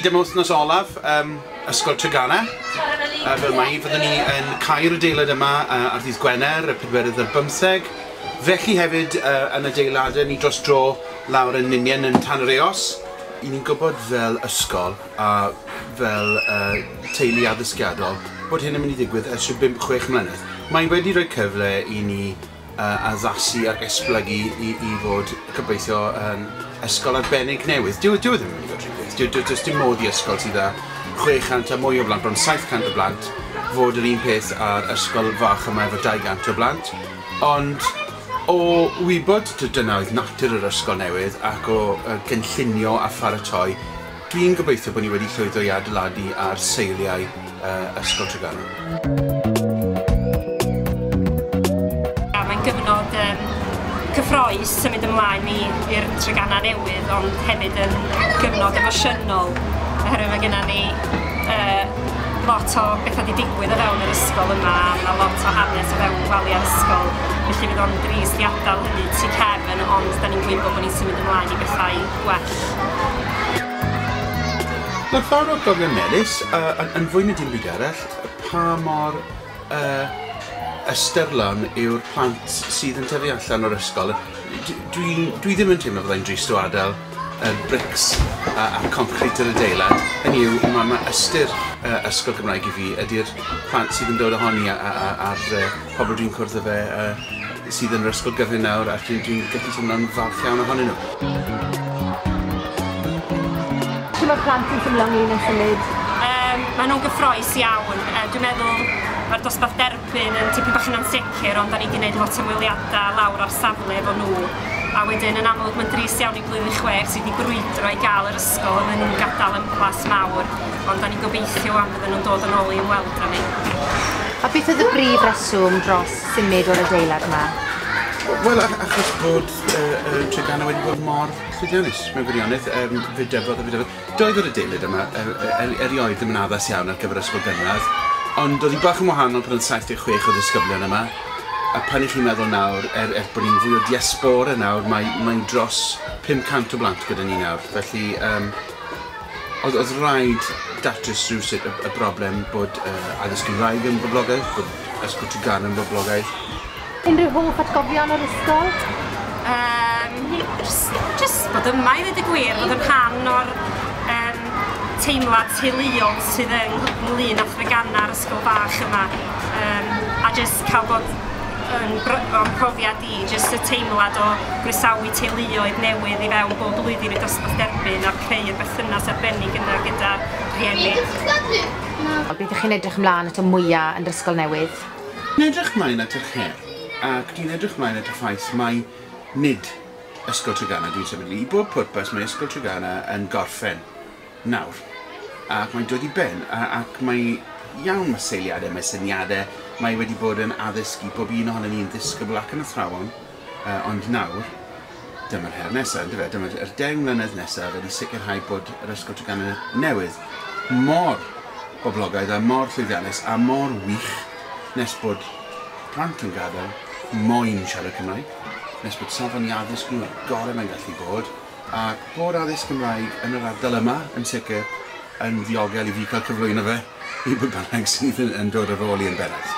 Hyd am wythnos olaf um, Ysgol Treganna. Uh, fel mai, fyddwn ni yn cael adeilad yma uh, ar ddydd Gwener, y pedwerydd ar bymtheg. Felly hefyd uh, yn adeiladau ni dros dro lawr yn Ninian yn Tan yr Eos. I ni'n gwybod fel ysgol a fel uh, teulu addysgiadol bod hyn yn mynd i ddigwydd ers rhyw 5-6 mlynedd. Mae wedi rhoi cyfle i ni a addasu ac esblygu i i fod gobeithio yn ysgol arbennig newydd. Dyw dyw e ddim yn mynd i fod rhy byth. Dyw does dim modd i ysgol sydd â 600 a mwy o blant, bron 700 o blant, fod yr un peth â'r ysgol fach yma efo 200 o blant. Ond o wybod dyna oedd natur yr ysgol newydd ac o gynllunio a pharatoi Dwi'n gobeithio bod ni wedi llwyddo i adeiladu ar seiliau Ysgol Tregaron. Mae'n gyfnod cyffroes symud ymlaen i'r Treganau newydd ond hefyd yn gyfnod emosiynol oherwydd mae gennym ni lot o bethau wedi digwydd o fewn yr ysgol yma a mae lot o hanes o fewn gwaliau'r ysgol felly fydd o'n drist i adael hynny tu cefn ond dan ni'n gwybod bod ni'n symud ymlaen i bethau gwell. Ma'r ffordd o gofio melys yy yn yn fwy na dim byd arall pa mor yy ystyrlon yw'r plant sydd yn tyfu allan o'r ysgol a d- dwi'n dwi ddim yn teimlo fyddai'n drist o adel yr brics a a'r concrit yr adeilad hynny yw ma' ma' ystyr yy ysgol Gymraeg i fi ydi'r plant sydd yn dod ohoni a a a a'r yy pobol dwi'n cwrdd â fe yy sydd yn yr ysgol gyfun nawr a dwi'n dwi'n gallu teimlo'n falch iawn ohonyn nhw. Shwt ma'r plant yn teimlo ynglyn â symud? Yym ma' nhw'n gyffrous iawn yy dwi'n meddwl ma'r dosbarth derbyn yn tipyn bach yn ansicr ond 'dan ni 'di neud lot o ymweliada lawr ar safle efo nhw a wedyn yn amlwg ma'n drist iawn i blwyddyn chwech sydd 'di brwydro i ga'l yr ysgol a ma' nhw'n gadal yn blas mawr ond 'dan ni'n gobeithio 'wan fyddan nhw'n dod yn ôl i ymweld â ni. A beth oedd y brif reswm dros symud o'r adeilad 'ma? W- wel a- achos bod y y Treganna wedi bod mor cludianus mewn gwirionedd yym fe dyfodd a fe dyfodd. Doedd yr adeilad yma yy yy er- erioed ddim yn addas iawn ar gyfer ysgol gynradd ond o'dd 'i bach yn wahanol pan o'dd saith deg chwech o ddisgyblion yma a pan 'ych chi'n meddwl nawr er er bo' ni'n fwy o diaspora nawr mae mae'n dros pum cant o blant gyda ni nawr felly yym Oedd, oedd rhaid datrys rhywsut y, y broblem bod uh, addysg Gymraeg yn boblogaeth, bod ysgol Tregan yn boblogaeth. Unrhyw hoff atgofion o'r ysgol? Um, just bod yma i ddweud y gwir, bod yn rhan o'r um, teimlad teuluol sydd yn ynglyn â threganau'r ysgol bach yma. Um, a just cael bod yn, yn profiad fi, jyst y teimlad o groesawu teuluoedd newydd i fewn bob blwyddyn i'r dosbarth derbyn a chreu y berthynas arbennig yna gyda rhieni. Beth ych chi'n edrych ymlaen ato mwya' yn yr ysgol newydd? Dwi'n edrych mlaen at yr her ac dwi'n edrych mlaen at y ffaith mai nid Ysgol Treganna dwi'n sefydlu. I bob pwrpas mae Ysgol Treganna yn gorffen. nawr, ac mae'n dod i ben, ac mae iawn, mae seiliadau, mae syniadau, mae wedi bod yn addysg i bob un ohono ni'n ddisgybl ac yn athrawon, ond nawr, dyma'r her nesaf, yn dyfe, dyma yr deng mlynedd nesaf ydy sicrhau bod yr Ysgol Treganna newydd mor boblogaidd a mor llwyddiannus a mor wych nes bod plant yn gadael moyn siarad Cymraeg, nes bod safon i addysg nhw y gorau mae'n gallu bod. A bod addysg Gymraeg yn yr ardal yma, yn sicr, yn ddiogel i fi cael cyflwyno fe i bwy bynnag sydd yn dod ar ôl i yn bennaf.